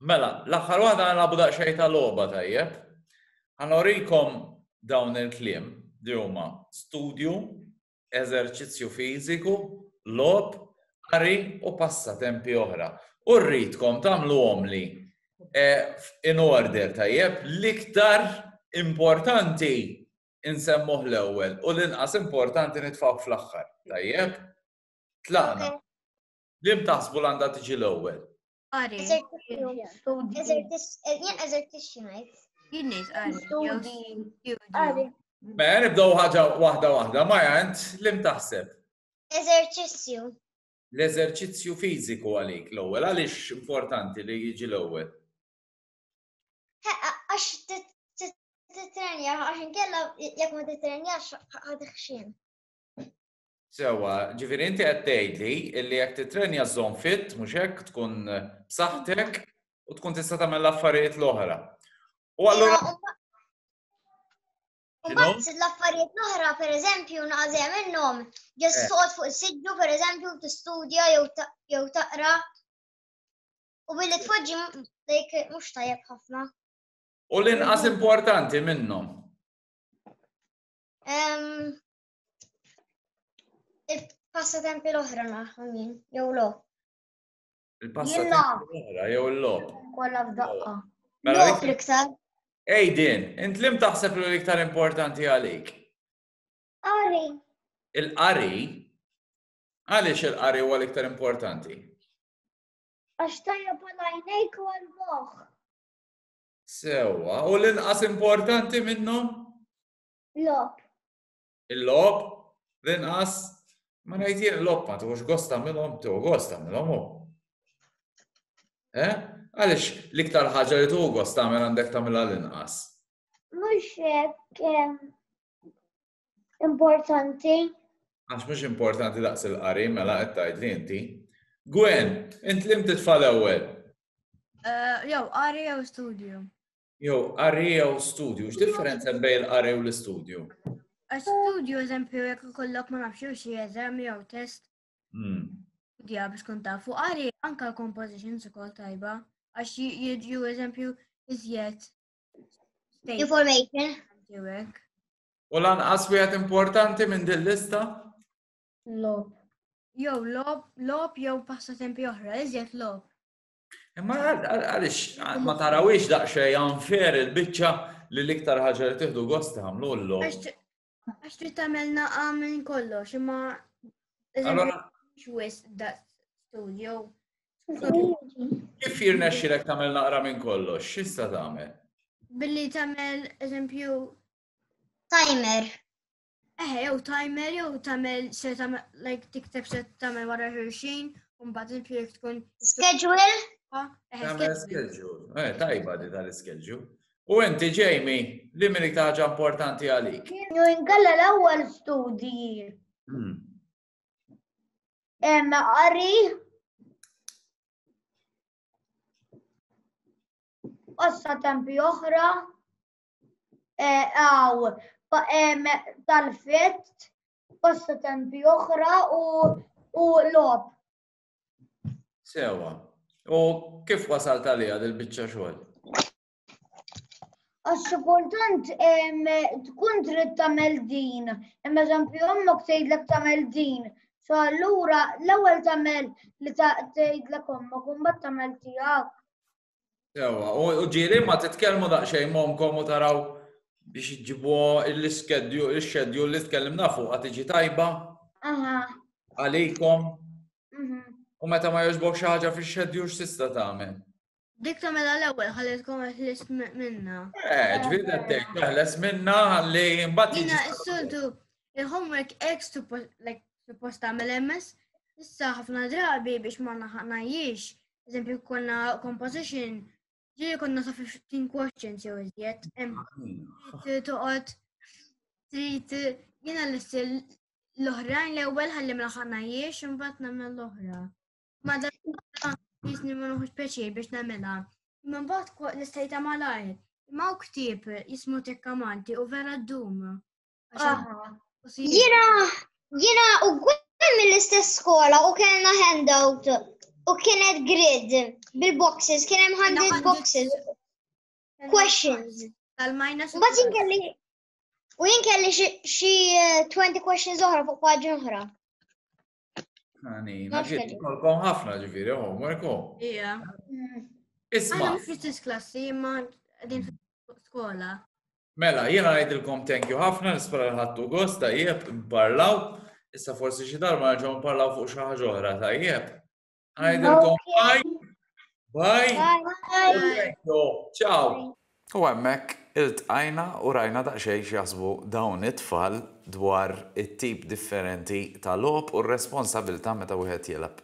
Mela, l-aħħar waħda nilagħbu daqsxejn ta' logħba tajjeb. Ħanorikom dawn il-kliem li huma studju, eżerċizzju fiżiku, lob, qari u passatempi oħra. U rridkom tagħmluhom li e, in order tajjeb l-iktar importanti insemmuh l-ewwel u l-inqas importanti nitfgħu fl-aħħar. Tajjeb? Tlaqna. Lim taħsbu l-għandha tiġi l-ewwel? Qari. Eżertixxi ngħid. Jien ngħid qari. Mela nibdew ħaġa waħda waħda, ma jant lim taħseb. Eżerċizzju. L-eżerċizzju fiżiku għalik l-ewwel, għaliex importanti li jiġi l-ewwel? Għax titrenja, għax inkella jekk ma titrenjax ħadħxin. Sewwa, ġifieri inti qed tgħidli li jekk tittrenja żżomm fit, mhux hekk, tkun b'saħħtek u tkun tista' tagħmel l-affarijiet l-oħra. U allura Mbagħad l-affarijiet l-oħra, pereżempju, naqżem minnhom, ġest eh. toqgħod fuq is-siddu pereżempju tistudja jew taqra. U billi tfoġġi like mhux tajjeb ħafna. U l-inqas importanti minnhom. Il-passatempi l-oħra naħħom jien, jew lo. Il-passatempi l-oħra, jew l-lob. Kolla f'daqqa. Mela lob l-iktar. Ej din, int lim taħseb li l-iktar importanti għalik? Qari. Il-qari? Għaliex il-qari huwa l-iktar importanti? Għax tajja palajnejk u għal-moħ. Sewa, u l-inqas importanti minnhom? Lop. Il-lop, l-inqas, ma ngħidjek lop ma tuħux gost tagħmilhom, tuħu gost tagħmilhom hu. Eh? Għaliex l-iktar ħaġa li tuħu gost tagħmel għandek tagħmilha l-inqas. Mhux hekk importanti. Għax mhux importanti daqs il-qari mela qed tgħidli inti. Gwen, int lim titfal ewwel. Eh, jew qari jew studio. Jew qari jew studju, x'differenza bejn il-qari u l-istudju? Studju eżempju jekk ikollok ma nafx jew xi eżam jew test. Hmm. Studja biex kun taf fuq qari anke compositions ukoll tajba għax jiġu eżempju iżjed. Information. U lanqas wieħed importanti minn din lista? Lob. Jew lob, lob jew passatempi oħra, iżjed lob. Imma għaliex ma tarawiex daqsxejn unfair il-biċċa li l-iktar ħaġa li tieħdu gost tagħmlu l Għax trid tagħmel naqa' minn kollox, imma Allora, xwis da studio. Kif jirnexxilek tagħmel naqra minn kollox, x'issa tagħmel? Billi tagħmel eżempju timer. Eħe, jew timer, jew tamel, se tamel, like tikteb se tamel wara ħirxin, un bad il-pjek tkun. Schedule? Tamel schedule. Eh, tajba di tal-schedule. U enti ġejmi, li minn iktaġa importanti għalik? Kienu ingalla l-ewwel studji. Hmm. Emma qari. Ossa tempi oħra. għaw tal-fett, passatempi oħra u lob. Sewa. U kif wasalt għalija dil-bicċa xogħol? Għax kultant tkun trid tagħmel din, imma eżempju ommok tgħidlek tagħmel din. So allura l-ewwel tagħmel li tgħidlek ommok u mbagħad tagħmel tiegħek. Sewa, u ġiri ma titkellmu daqsxejn momkom u taraw biex ġibu l-iskedju, il-xedju li tkellimna fuq tiġi tajba. Għalikom. Mhm. U meta ma jogħġbok xi ħaġa fix-xedju x'tista' tagħmel? Dik ta' mela l-ewwel ħallitkom ħlis minna. Eh, ġifieri qed tgħid teħles minna ħalli mbagħad. Jiena s-soltu il-homework ex like suppost tagħmel MS, issa ħafna drabi biex ma naħanajiex eżempju, konna composition, ġiri konna sa' 15 questions jew iżjed. Toqgħod trid jiena l-istil l-oħrajn l-ewwel ħalli ma ħanajiex imbagħad nagħmel l-oħra. Ma dan jisni ma noħux pjaċir biex nagħmilha. Imma mbagħad nistajta malajr. Imma u ktieb jismu tekkamanti u vera d-dum. Ah. Jina, jina u għem mill-istess skola u kellna handout u kienet grid bil-boxes, kien hemm hundred boxes. Questions. Tal-minus. U bat jinkelli u jinkelli xi 20 eh, questions oħra fuq paġi oħra. Għani, naġiet kolkom ħafna ġifiri, homework home. Ija. Isma. Għana mux fil klassi, ma għedin skola. Mela, jena għajdilkom thank you ħafna, nispera ħattu gost, tajjeb, parlaw. Issa forsi xi darba nerġgħu nparlaw fuq xi ħaġa oħra tajjeb. Ngħidilkom bye. Bye. Ciao. U hemmhekk iltqajna u rajna daqsxejn x'jaħsbu dawn it-tfal dwar it-tip differenti ta' logħob u r-responsabilità meta wieħed jilgħab